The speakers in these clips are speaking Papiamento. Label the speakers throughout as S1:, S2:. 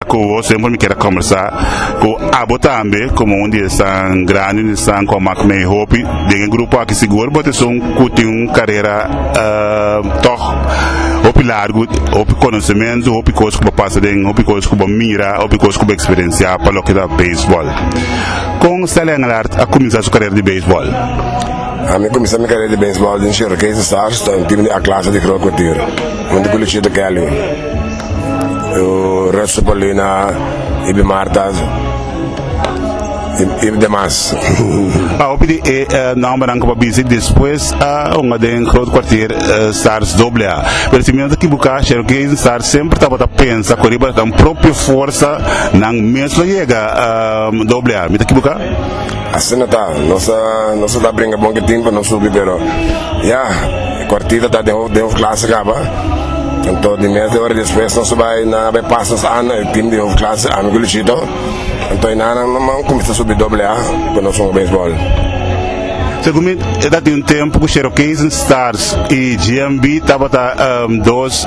S1: Ku wos siempre mi kier a kombersá ku abo tambe komo un di esnan grandi un di esnan ku a mak mei hopi den e grupo aki sigur bo ta esun ku tin un karera tòg hopi largu hopi konosementu hopi kos ku bo pasa den hopi kos ku bo mira hopi kos ku bo eksperensiá pa loke ta beisbòl kon Stelly Engelhart a kuminsá su karera di beisbòl? Ami kuminsá mi karera di beisbòl den Chirokese Stars ta un tim di A Klase di Groot Kwartier, huntu ku Luchito Kelly, Ruth Sepulina, Ibi Martas i demas. A hopi di e nòmbernan ku bo a bisi despues a hunga den Groot Kwartier Stars Doble A. Pero si mi no ta kibuká, Chirokese Stars semper tabata pensa ku riba nan propio forsa nan mes lo yega Doble A. Mi ta kibuká? Asina ta, nos a nos a ta bringa bon ke tin pa nos subi pero ya e kuartita ta den hof den hof klase kaba anto di mes di ora despues nos a bai nan a bai pas nos ana e tim di hof klase ami ku Luchito anto e nannan manman kuminsa subi doble a ku nos un beisbòl. Segun mi e ta tin un tempu ku Shero Kensington Stars i GMB tabata dos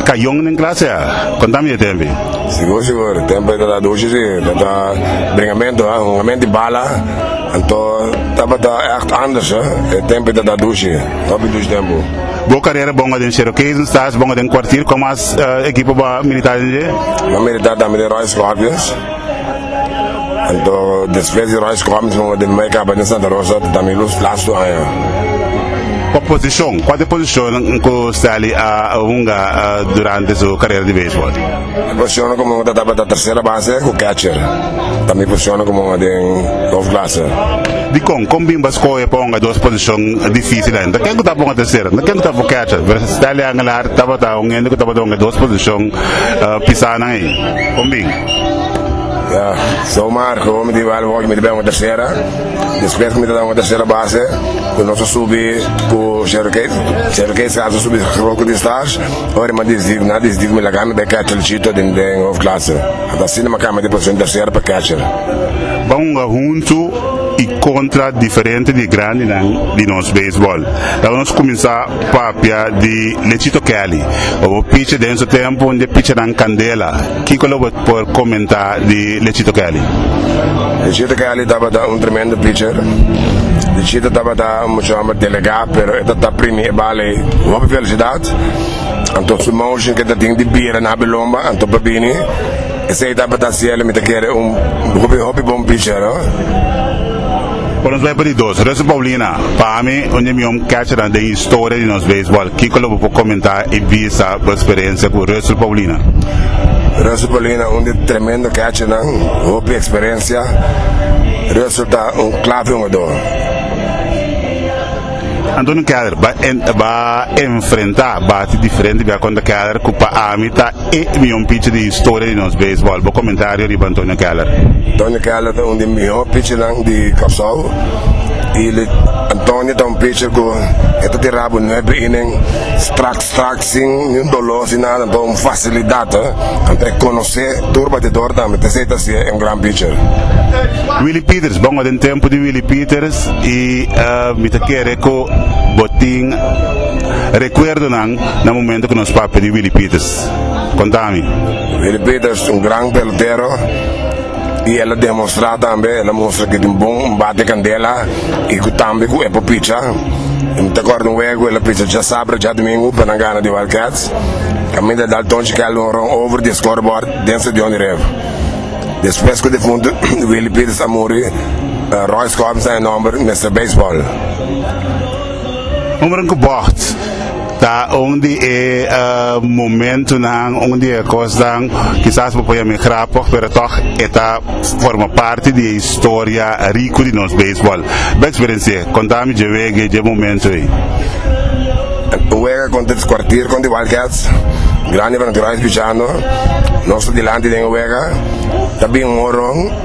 S1: kayon den klase a. Kontami e tempu. Sigur sigur tempo e ta ta dushi si ta ta bringamento a hungamento di bala anto tabata echt anders a e tempo e ta ta dushi hopi dushi tempo. Bo carrera bonga den Sero Kees en Staes bonga den Kwartier con mas equipo bo a milita den dje? Bo a milita tambe den Royal Scorpions. Anto despues di Royce Combs no den Mike Abad na Santa Rosa ta tambe Luz Plas tur aña. Kua posishon, kuater posishonnan ku Stanley a hunga durante su karera di beisbol? E posishonnan ku mi hunga ta tabata tersera base ku catcher. Tambe e posishonnan ku mi hunga den hofklase. Dikon kon bimba skohe pa hunga dos posishon difisil ain? Ken ku ta bon tersera? Ken ku ta bon catcher? Stanley Angelar tabata un hende ku tabata hunga dos posishon pisanan ei. Kon bin? Ya, sa un marca cu mi ta bal hopi mi ta bay un tercera despues cu mi ta bay un tercera base cu nos a subi cu Sherry Case, Sherry Case a subi solo cu diez stars ora mi a diez na diez dies mi laga mi bay catcher chito den den hof clase ata asina mi a cambia di posicion tercera pa catcher. Ba hunga huntu y contra diferente di e grandinan di nos baseball. Laga nos cuminsa papia di Lechito Kelly. Bo bo picha den su tempo un di e pichanan candela. Kiko lo bo por comenta di Lechito Kelly? Lechito Kelly tabata un tremendo pitcher. Lechito tabata un mucha homber delega pero e ta tap primi e bal ey cu hopi velocidad. Anto su motion cu e ta tin di bira na habi lomba anto pa bini. Esey tabata cielo mi ta kere un hopi hopi bon pitcher. Por nos bai pa di dos. Rusty Paulina, pa ami un di mion catchernan den historia di nos baseball. Kiko lo bo por comenta y bisa bo experiencia cu Rusty Paulina? Rusty Paulina un di tremendo catchernan, hopi experiencia. Rusty ta un clave jugador. Antonio Keller, ba enfrenta bate diferente bia contra Keller cu pa ami ta. E mihó pichi di historia di nos beisbòl. Bo komentario riba Antonio Keller. Antonio Keller ta un di mihó pichinan di Kòrsou i Antonio ta un picher ku e ta tira bo nuebe inen strak strak sin niun doló sin nada bo un fasilidat anto e konosé tur batedor tambe ta esei ta hasié e un gran picher. Willie Peters Bo den tempu di Willie Peters i mi ta kere ku bo tin rekuerdonan Na momento cu nos papi di Willie Peters. Conta mi. Willie Peters un gran pelotero y el a demostra tambe, el a mustra que tin bon un bate candela y cu tambe cu e por picha. Y mi ta acorda un wego el a picha djasabra, djadomingo pa nan gana di Wildcats. Caminda Dalton Chikelda un run over di e scoreboard den stadion di Revo. Despues cu defunto Willie Peters a muri, Roy Scorpions na e nomber, Mister Baseball. Hombren ku bògt ta un di e momentunan, un di e kosnan kisas bo pone mi grapig pero tòg e ta forma parti di e historia riku di nos beisbòl. Bo eksperensi'é, konta mi dje wega, dje momentu ei. Wega konta di kuartier konta di Wildcats, grandi fanatikado a Espiciano. Nos ta dilanti den e wega, ta bin un horon.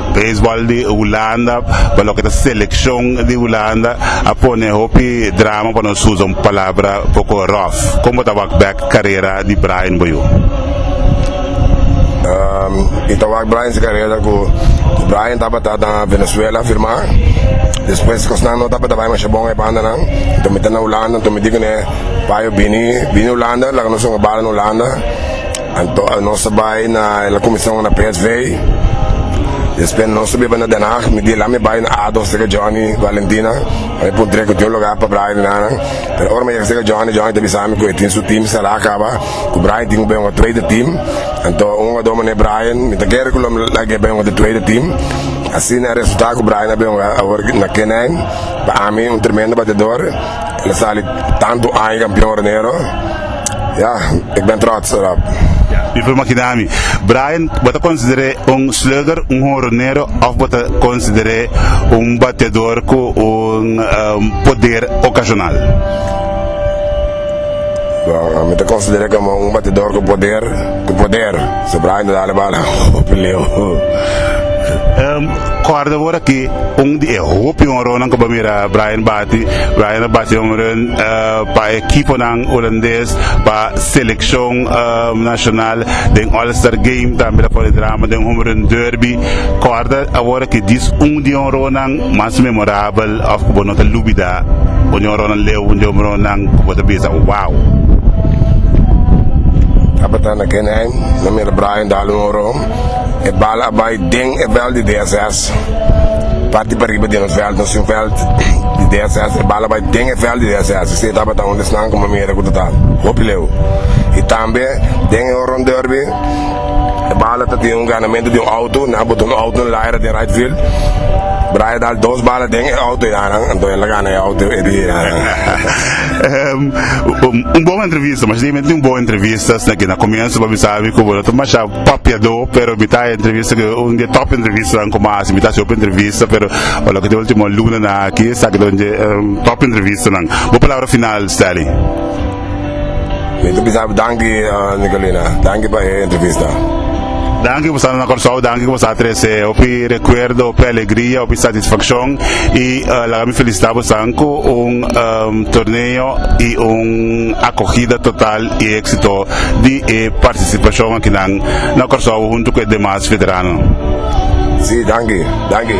S1: Baseball di Hulanda, pa loke ta seleccion di Hulanda, a pone hopi drama pa nos usa un palabra poco rough. Con bo ta wak back carera di Brian bo yu? Mi ta wak Brian su carera cu Brian tabata na Venezuela firma, despues cosnan no tabata bay masha bon e banda nan, enton mi ta na Hulanda, enton mi di cu ne, bay o bini, bini Hulanda, laga nos hunga bala na Hulanda. Anto nos a bai na el a kuminsá una PSV i despues nos a biba na Den Haag. Mi di el, Ami a bai na Ado serka Johnny Valentina, pa mi puntra e ku tin un lugá pa Brian i nan. Pero ora mi a yega serka Johnny, Johnny ta bisa mi ku e tin su tim será kaba, ku Brian tin ku bai un otro tweede tim. Anto un hugadó mané Brian, mi ta kere ku lo mi laga e bai un otro tweede tim. Asina e resultá ku Brian a bai hunga awor na K-nine. Pa ami un tremendo bateador, el a sali tantu aña kampion Ronero. Ya, ik ben trots derop. Mi prueba aquí dami. Brian, bo ta consideré un slugger, un jonronero, of bo ta consideré un bateador cu un um, poder ocasional? Well, mi ta consideré como un bateador cu poder, cu poder. So Brian ta dale bala op leo. Um, corda bora que un di e hopi jonronan cu bo mira Brian bate Di Ryan a bati un run pa e ekiponan Hulandes pa selekshon nashonal den All Star Game. Tambe a pone drama den Home Run Derby. Kòrda awor ki dis un di honronnan mas memorabel òf ku bo no ta lubidá. Un di honronnan leu, un di honronnan ku bo ta bisa, wow! Kapitán Ken Heim, no mira Brian dal un honron. E bal a bai den e vèlt di DSS. Parti pa riba den e veld nos tin veld di DSS e bala bai den e veld di DSS esei tabata un esnan ku mi mira ku ta ta hopi leu i tambe den e horon dòrbi e bala ta tin un ganamentu di un outo nan a bota un outo na laira den raight field Brian a dal dos bala den e outo i nan anto el a gana e outo e dia i nan un bon entrevista masha tin un bon entrevista na komienso pasobra mi sabi ku bo no ta masha Papiadó pero mi ta entrevista cu un di e top entrevistanan cu mi a haci mi ta haci hopi entrevista pero lo cu ta ultimo luna na aki esaki ta un di e top entrevistanan bo palabra final Stelly. Mi ta bisa danki Nicolina danki pa e entrevista. Danki ku sa na Kòrsou, danki ku sa trese hopi rekuerdo, hopi alegria, hopi satisfakshon i laga mi felisitá bosan ku un torneo i un akogida total. e éksito di e partisipashon akinan na Kòrsou huntu ku e demas veterano. Sí, danki, danki.